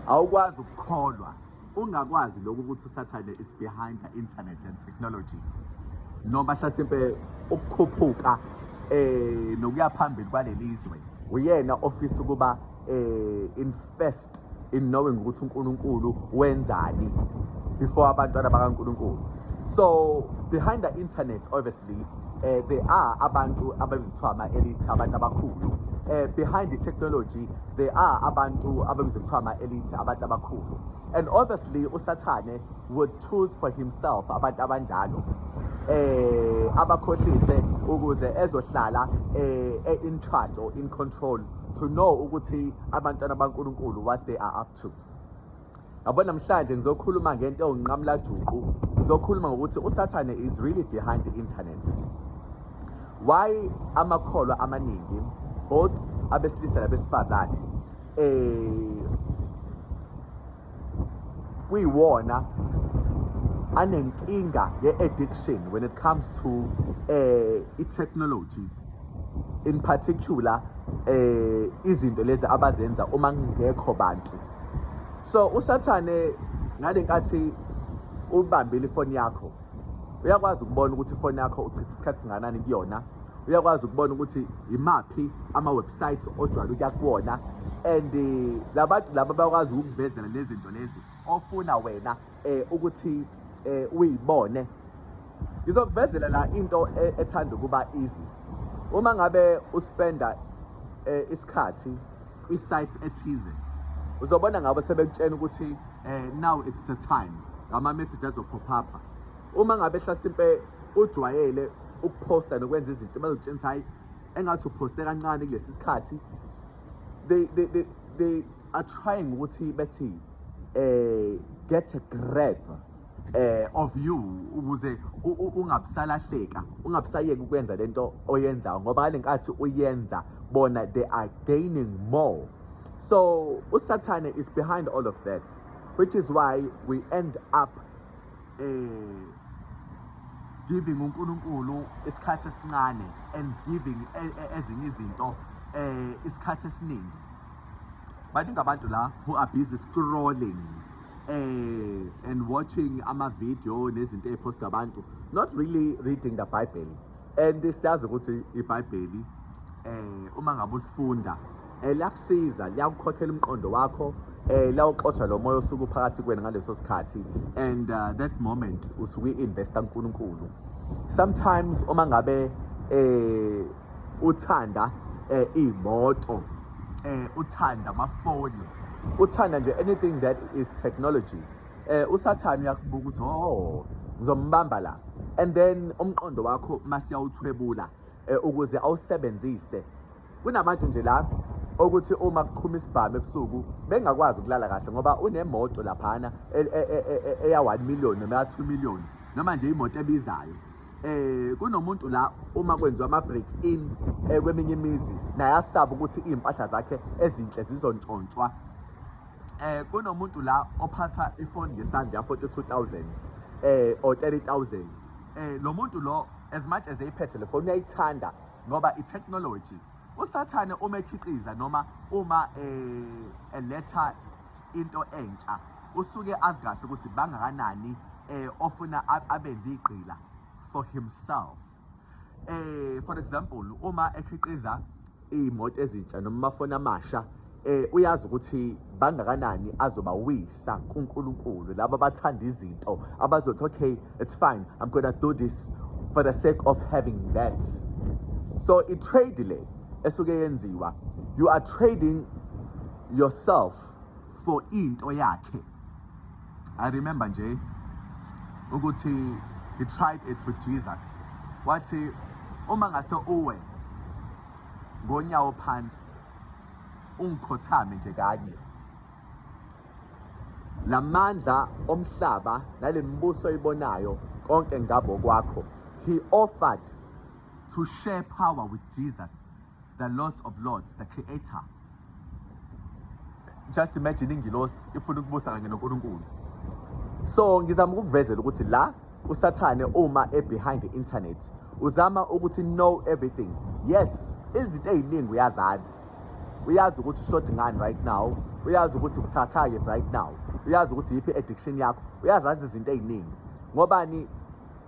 Awukwazi ukukholwa ungakwazi lokhu ukuthi usathane is behind the internet and technology noma hlasimpe ukukhuphuka eh nokuya phambili kwalelizwe uyena ofisa ukuba eh invest in knowing ukuthi uNkulunkulu wenzani before abantwana bakaNkulunkulu so behind the internet or the obviously uh, there are abantu ababizwa kuthiwa ama-elite abantu abakhulu uh, behind the technology there are abantu ababizwa kuthiwa ama-elite abantu abakhulu and obviously usathane would choose for himself abantu abanjalo eh abakhohlise ukuze ezohlala eh, eh in charge or in control to know ukuthi abantwana baNkuluNkulu what they are up to yabo namhlanje ngizokhuluma ngento ewunqamula juqu ngizokhuluma ngokuthi usathane is really behind the internet why amakholwa amaningi both abesilisa nabesifazane eh kuyiwona anenkinga ye-addiction when it comes to eh i-technology in particular eh izinto lezi abazenza uma kungekho bantu so usathane ngale nkathi ubambile ifoni yakho uyakwazi ukubona ukuthi ifoni yakho uchitha isikhathi singanani kuyona uyakwazi ukubona ukuthi imaphi ama-website ojwayele ukuya kuwona and eh, labantu laba bakwazi ukukuvezela lezi zinto lezi ofuna wena eh ukuthi eh uyibone ngizokuvezela la into e, ethanda ukuba easy uma ngabe uspenda eh, isikhathi kwi site ethize uzobona ngabo sebekutshena ukuthi eh now it's the time ngama message azophopha pha uma ngabe hlasimpe ujwayele ukuposta nokwenza izinto bazokutshena ukuthi hayi engathi uposte kancane kulesi sikhathi they they they, they are trying ukuthi bethi eh get a grab eh of you ukuze ungabusalahleka ungabusayeki ukwenza lento oyenzayo ngoba ngalenkathi uyenza bona they are gaining more so usathane is behind all of that which is why we end up eh giving uNkulunkulu isikhathi esincane and giving e, e, ezinye izinto eh isikhathi esiningi baningi abantu la who are busy scrolling eh and watching ama video nezinto eziphostwa abantu not really reading the bible and siyazi ukuthi ibhayibheli eh uma ngabe ulifunda eh, liyakusiza liyakukhokhela umqondo wakho eh lawuxotsha lo moya osuku phakathi kwena ngaleso sikhathi and uh, that moment usuke investa uNkulunkulu sometimes uma ngabe eh uthanda eh, iy'moto eh, uthanda amafoni uthanda nje anything that is technology eh, usathane uyakubuka ukuthi o oh, ngizombamba la and then umqondo wakho masiyawuthwebula eh, ukuze awusebenzise kunabantu nje la okuthi uma kuqhuma isibhamu ebusuku bengakwazi ukulala kahle ngoba unemoto laphana e, e, e, eya 1 million noma ya 2 million noma nje imoto ebizayo eh kunomuntu la uma kwenziwa ama break in eh, kweminye imizi naye asaba ukuthi izimpahla zakhe ezinhle zizontshontshwa eh kunomuntu la ophatha ifoni ngesandla ya 42000 eh or 30000 eh lo muntu lo as much as eyiphethe le foni uyayithanda ngoba i technology usathane uma ekhiqiza noma uma eh eletha into entsha usuke azi kahle ukuthi bangakanani eh ofuna abenze igqila for himself eh for example uma ekhiqiza imoto ezintsha noma amafoni amasha eh uyazi ukuthi bangakanani azobawisa kuNkulunkulu laba bathanda izinto abazothi okay it's fine i'm going to do this for the sake of having that so i trade le esuke yenziwa you are trading yourself for into yakhe i remember nje ukuthi he tried it with jesus wathi uma ngase uwe ngonyawo phansi ungikhothame nje kanye lamandla omhlaba nalembuso ibonayo konke ngabo kwakho he offered to share power with jesus the Lord of Lords, the Creator. Just imagine ingilosi ifuna ukubusa kanye noNkulunkulu. So ngizama ukukuvezela ukuthi la usathane uma e behind the internet uzama ukuthi know everything. Yes, izinto eziningi uyazazi. Uyazi ukuthi ushort ngani right now, uyazi ukuthi uthatha ke right now. Uyazi ukuthi yipi addiction yakho, uyazazi izinto eziningi. Ngobani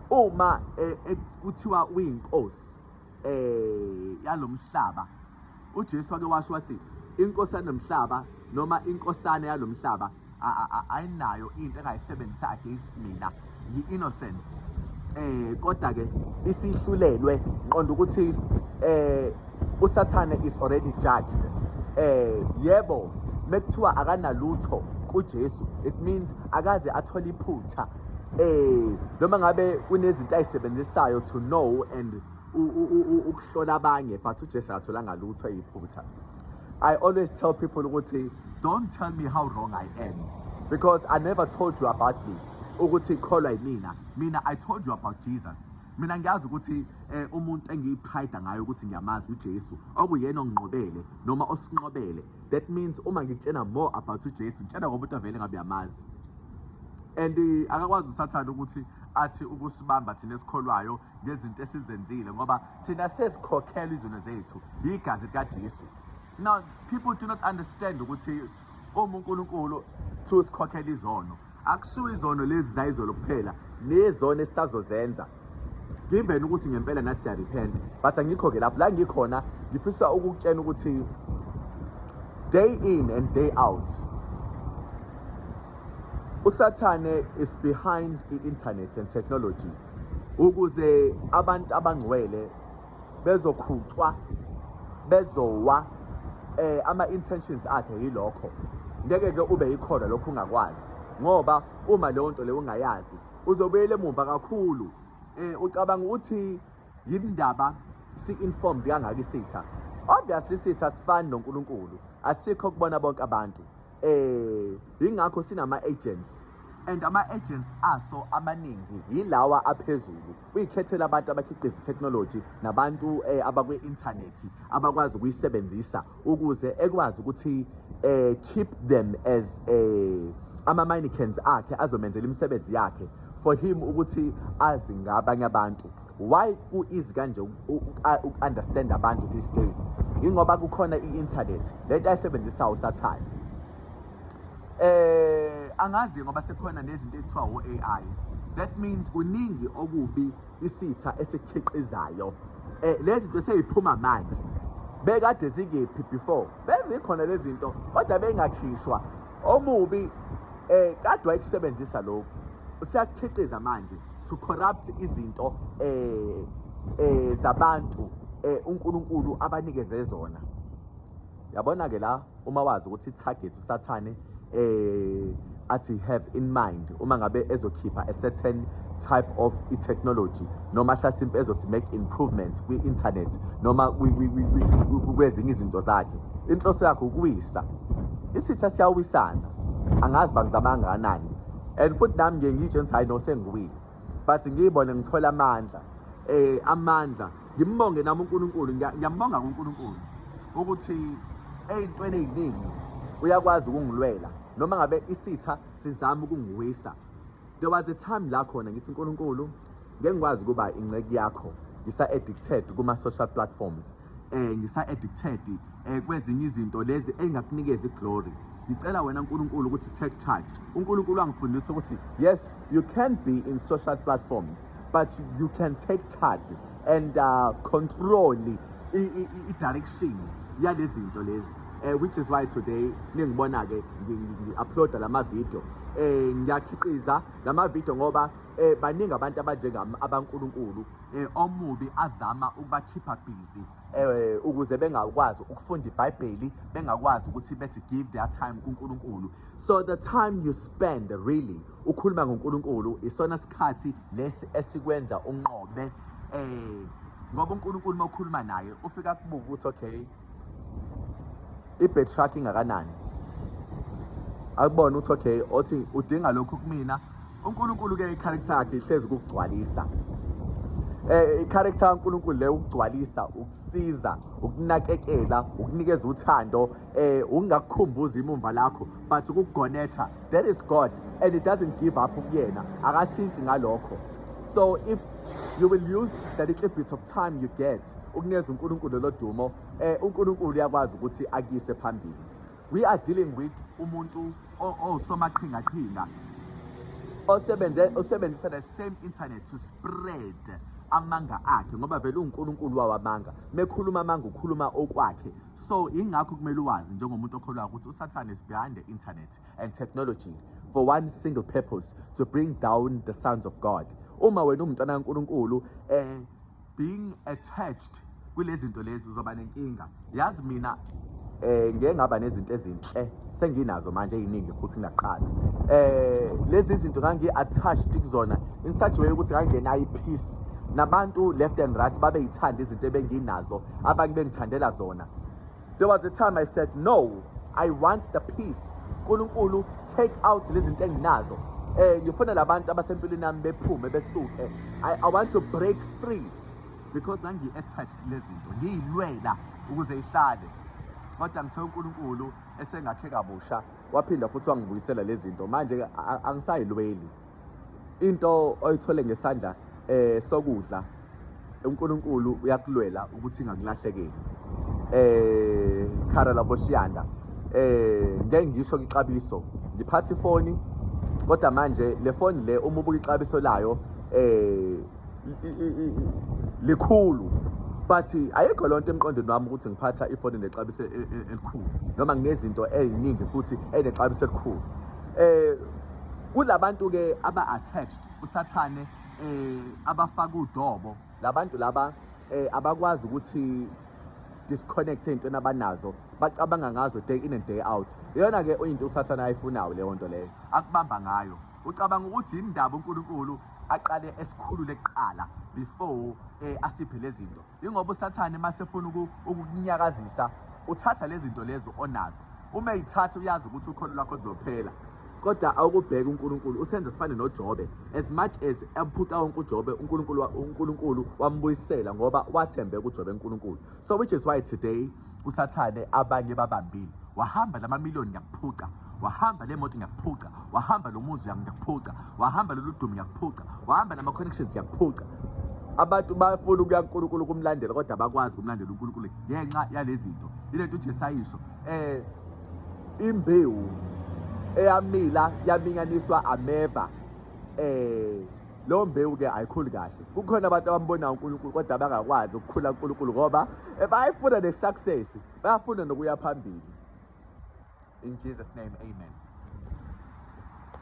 uma eh, eh, kuthiwa uyinkosi eh yalomhlaba uJesu wake washo wathi inkosi yanomhlaba noma inkosana yalomhlaba ayinayo into engayisebenzisa against mina yi innocence eh kodwa ke isihlulelwe nqonda ukuthi eh usathane is already judged eh yebo mekuthiwa akanalutho kuJesu it means akaze athole iphutha eh noma ngabe kunezinto ayisebenzisayo to know and ukuhlola abanye but uJesu atholanga lutho eyiphutha I always tell people ukuthi don't tell me how wrong I am because I never told you about me ukuthi kholwa yimina mina I told you about Jesus mina ngiyazi ukuthi eh, umuntu engiyiphayida ngayo ukuthi ngiyamazi uJesu okuyena onginqobele noma osinqobele That means uma ngikutshena more about uJesu ngitshena ngoba umuntu avele ngabe yamazi. And eh, akakwazi usathana ukuthi athi ukusibamba thina esikholwayo ngezinto esizenzile ngoba thina sesikhokhela izono zethu yigazi likaJesu. Now people do not understand ukuthi uma uNkulunkulu sikhokhela izono Akushiwo izono lezi zayizolo kuphela nezono esisazozenza given ukuthi ngempela nathi siyarepent but angikho-ke lapho la ngikhona ngifisa ukukutshena ukuthi day in and day out usathane is behind i-internet and technology ukuze abantu abangcwele bezokhutshwa bezowa eh ama intentions akhe yilokho ngeke ke ube yikhona lokho ungakwazi ngoba uma leyo nto leyo ungayazi uzobuyela emumva kakhulu eh ucabanga ukuthi yindaba si informed kangaka isitha obviously isitha sifani noNkulunkulu asikho kubona bonke abantu eh ingakho sinama agents and ama agents aso amaningi yilawa aphezulu uyikhethela abantu abakhiqiza technology nabantu eh, abakwi internet abakwazi ukuyisebenzisa ukuze ekwazi ukuthi eh keep them as eh ama mannequins akhe azomenzela imisebenzi yakhe for him ukuthi azi ngabanye abantu Why ku easy kanje uku-understand abantu these days? Ingoba kukhona i-internet lento ayisebenzisayo usathane. Eh angazi ngoba sekukhona nezinto ekuthiwa o-AI. That means kuningi okubi isitha esikhiqizayo. Eh lezi zinto seyiphuma manje. Bekade zikephi before? Bezikhona lezi zinto kodwa bengakhishwa. Omubi eh kade wayekusebenzisa lokho. Siyakhiqiza manje. to corrupt izinto eh eh zabantu eh uNkulunkulu abanikeze zona yabona ke la uma wazi ukuthi target usathane eh athi have in mind uma ngabe ezokhipha a certain type of i-technology noma hlasimpe ezothi make improvements kwi-internet noma kwezinye izinto zakhe inhloso yakhe ukuwisa isitha siyawisana angazi bangizama kangakanani and futhi nami ngiye ngitshe ngithi hayi no sengiwile but ngiyibone ngithola amandla eh amandla ngimbonge nami uNkulunkulu ngiyambonga kuNkulunkulu ukuthi eyintweni eziningi uyakwazi ukungilwela noma ngabe isitha sizama ukungiwisa there was a time la khona ngithi uNkulunkulu ngeke ngikwazi kuba ingceki yakho ngisa addicted kuma social platforms eh ngisa addicted eh kwezinye izinto lezi engakunikeza iglory ngicela wena uNkulunkulu ukuthi take charge uNkulunkulu angifundisa ukuthi yes you can be in social platforms but you can take charge and uh, control i direction yalezinto lezi eh which is why today ningibona ke ngi-uploada lama video eh ngiyakhiqiza lama video ngoba eh baningi abantu abanjengami abankulunkulu eh, omubi azama ukubakhipha busy eh, ukuze bengakwazi ukufunda ibhayibheli bengakwazi ukuthi bethi give their time kunkulunkulu so the time you spend really ukhuluma ngonkulunkulu isona sikhathi lesi esikwenza unqobe eh ngoba uNkulunkulu uma ukhuluma naye ufika kubuka ukuthi okay i-bed shark ingakanani akubona uthi okay othi udinga lokhu kumina uNkulunkulu ke i-character yakhe ihlezi ukugcwalisa eh i-character kaNkulunkulu le ukugcwalisa ukusiza ukunakekela ukunikeza uthando eh ungakukhumbuza imumva lakho but ukugonetha that is God and it doesn't give up kuyena akashintshi ngalokho so if you will use the little bit of time you get Christ ukunikeza uNkulunkulu lelo dumo eh uNkulunkulu uyakwazi ukuthi akuyise phambili we are dealing with umuntu osomaqhingaqhinga osebenze osebenzisa the same internet to spread amanga akhe ngoba vele uNkulunkulu wawamanga mekhuluma amanga ukhuluma okwakhe so ingakho kumele uwazi njengomuntu okholwa ukuthi uSathane is behind the internet and technology for one single purpose to bring down the sons of God uma wena umntana kaNkulunkulu eh being attached kulezinto lezi uzoba nenkinga yazi mina eh ngeke ngaba nezinto ezinhle senginazo manje eziningi futhi ngaqala eh lezi zinto ngangi attached kuzona in such way ukuthi ngangena i peace nabantu left and right babeyithanda izinto ebenginazo abanye bengithandela zona There was a time I said, no, I want the peace. Nkulunkulu, take out lezi zinto enginazo. Eh ngifuna labantu abasempilweni nami bephume besuke. I, I want to break free because angi attached lezi zinto. Ngiyilwela ukuze ihlale. Kodwa ngithe uNkulunkulu esengakhe kabusha waphinda futhi wangibuyisela lezi zinto. Manje angisayilweli. into oyithole ngesandla eh sokudla uNkulunkulu uyakulwela ukuthi ingakulahlekeli eh khara laboshiyanda eh ngeke ngisho ixabiso ngiphatha ifoni kodwa manje le foni le uma ubuka ixabiso layo eh likhulu but ayikho lonto emqondweni wami ukuthi ngiphatha ifoni nexabiso e, e, elikhulu noma nginezinto eziningi futhi enexabiso elikhulu eh Kulabantu ke aba attached usathane eh abafaka udobo labantu laba eh abakwazi ukuthi disconnect into nabanazo bacabanga ngazo day in and day out iyona ke into usathane ayifunayo leyo nto leyo akubamba ngayo ucabanga ukuthi indaba uNkulunkulu aqale esikhulule kuqala before eh asiphe lezinto Yingoba uSathane masefuna ukukunyakazisa uthatha lezi zinto lezo onazo uma eyithatha uyazi ukuthi ukholo lwakho lizophela kodwa awukubheka uNkulunkulu usenze sifane noJobe as much as amphuca wonke uJobe uNkulunkulu uNkulunkulu wambuyisela ngoba wathembeka uJobe uNkulunkulu so which is why today usathane abanye babambile wahamba lama million ngiyakuphuca wahamba le moto ngiyakuphuca wahamba lo muzi yami ngiyakuphuca wahamba lolu dumo ngiyakuphuca wahamba nama connections ngiyakuphuca abantu bafuna ukuya kuNkulunkulu kumlandela kodwa bakwazi kumlandela uNkulunkulu ngenxa yalezi zinto ilento uJesu ayisho eh imbewu eyamila yaminyaniswa ameva eh leyo mbewu-ke ayikhuli kahle kukhona abantu abambonayo unkulunkulu kodwa abangakwazi ukukhula unkulunkulu ngoba eh, bayifuna ne-success bayafuna nokuya phambili in jesus name amen